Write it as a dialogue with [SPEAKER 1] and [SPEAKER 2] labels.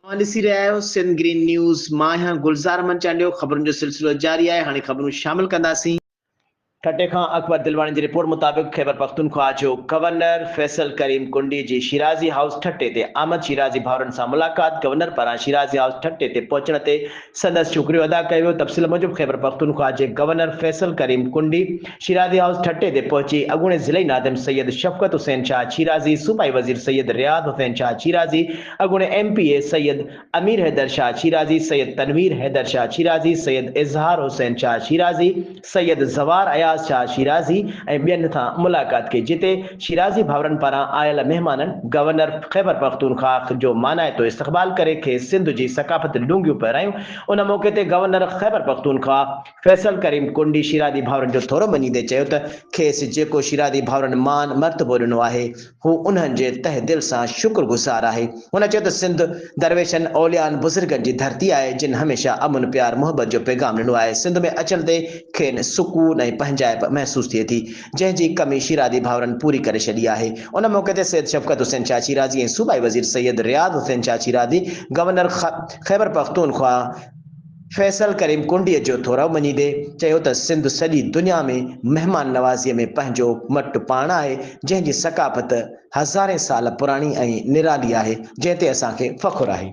[SPEAKER 1] اوهان ڏسي رهيا آهيو سنڌ گرين نيوز مان آهيان گلزار احمد چانڊيو خبرن جو سلسلو جاري آهي هاڻي خبرون شامل ڪنداسين. ٺٽي کان اڪبر دلواڻي جي رپورٽ مطابق خيبر پختونخواهه جو گورنر فيصل ڪريم ڪنڊي جي شيرازي هائوس ٺٽي تي آمد شيرازي ڀائرن سان ملاقات گورنر پاران شيرازي هائوس ٺٽي تي پهچڻ تي سندس شڪريو ادا ڪيو ويو تفصيل موجب خيبرپختونخوا جي گورنر فيصل ڪريم ڪنڊي شيرازي هائوس ٺٽي تي پهچي اڳوڻي ضلعي ناظم سيد شفقت حسين شاهه شيرازي صوبائي وزير سيد رياض حسين شاهه شيرازي اڳوڻي M P A Syed Amir Haider Shah Shirazi Syed Tanveer Haider Shah Shirazi Syed Izhar Hussain Shah Shirazi Syed زوار اياز شاهه شيرازي ۽ ٻين سان ملاقات ڪئي جتي شيرازي ڀاورن پاران آيل مهمانن گورنر خيبرپختونخواهه جو مانائتو استقبال ڪري کيس سنڌ جي ثقافتي لونگيون پهرايون ان موقعي تي گورنر خيبرپختونخواهه فيصل ڪريم ڪنڊي شيرازي ڀاورن جو ٿورو مڃيندي چيو ته کيس جيڪو شيرازي ڀاورن مان مرتبو ڏنو آهي هو انهن جي تهه دل سان شڪر گذار آهي. هن چيو ته سنڌ درويشن، اوليائن، بزرگن جي ڌرتي آهي، جن هميشه امن، پيار، محبت جو پيغام ڏنو آهي. سنڌ ۾ اچڻ تي کين سڪون ۽ پنهنجائپ محسوس ٿئي ٿي، جنهن جي ڪمي شيرازي ڀائرن پوري ڪري ڇڏي آهي. ان موقعي تي سيد شفقت حسين شاهه شيرازي ۽ صوبائي وزير سيد رياض حسين شاهه شيرازي، گورنر خيبرپختونخوا، فيصل ڪريم ڪنڊيء جو ٿورو مڃيندي چيو ته سنڌ سڄي دنيا ۾ مهمان نوازيء ۾ پنهنجو مٽ پاڻ آهي، جنهن جي ثقافت هزارين سال پراڻي ۽ نرالي آهي، جنهن تي اسان کي فخر آهي.